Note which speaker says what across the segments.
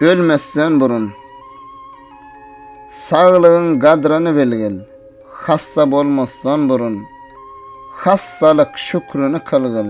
Speaker 1: Ölmesden burun saglygyň gadryny bilgil. Hassa bolmasdan burun hassalyk şükrini kylgyl.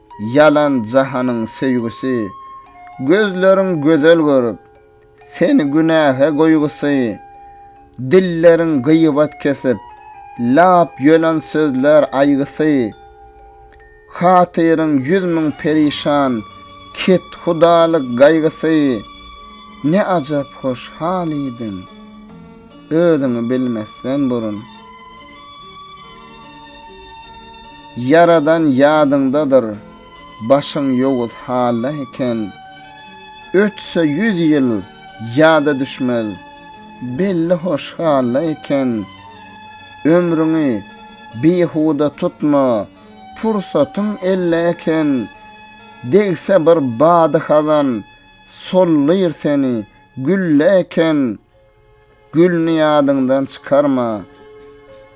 Speaker 1: Ýalan jahanyň söýgüsi, Gözleriň gözel görüp, Seni günähe goýgusy, Dilleriň gyýbat kesip, Lap ýölen sözler aýgysy. Hatyryň ýüz müň perişan, Kethudalyk gaýgysy. Ne ajap hoşhal idiň! Özüňi bilmezsen burun. Ýaradan ýadyňdadyr, başyň ýowuz halda eken. Ötse ýüz ýyl, ýada düşmez, belli hoş halda eken. Ömrüňi bihuda tutma, pursatyň elde eken. Degse bir bady hazan, sollyr seni, gülle eken. Gülni ýadyňdan çykarma,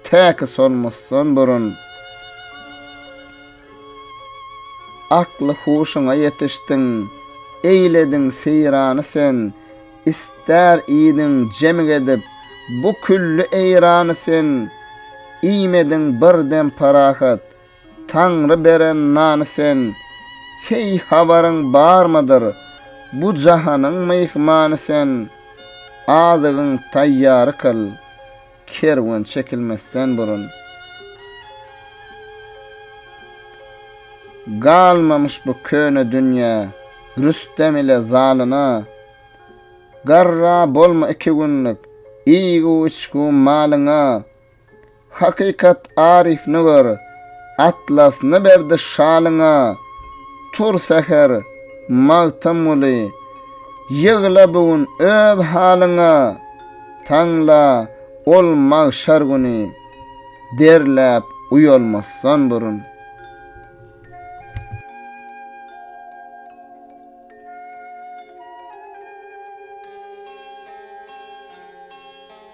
Speaker 1: täki solmasdan burun. Akly-huşuňa ýetişdiň, eýlediň seýrany sen, Ister iýdiň jemik edip bu külli eýrany sen, Iýmediň bir dem parahat, Taňry beren nany sen, Heý, habaryň barmydyr, Bu jahanyň myhmany sen, Azygyň taýýary kyl, Kerwen çekilmezden burun. Galmamyş bu köne dünýä, Rüstem ile zalyna, Garra bolma iki günlük, Iýgu-içgu malyňa. Hakykat Aryfny gör, Atlasny berdi şalyňa, Tur säher, Magtymguly, ýygla bu gün öz halyňa, Taňla ol magşar güni, derläp uýalmasdan burun.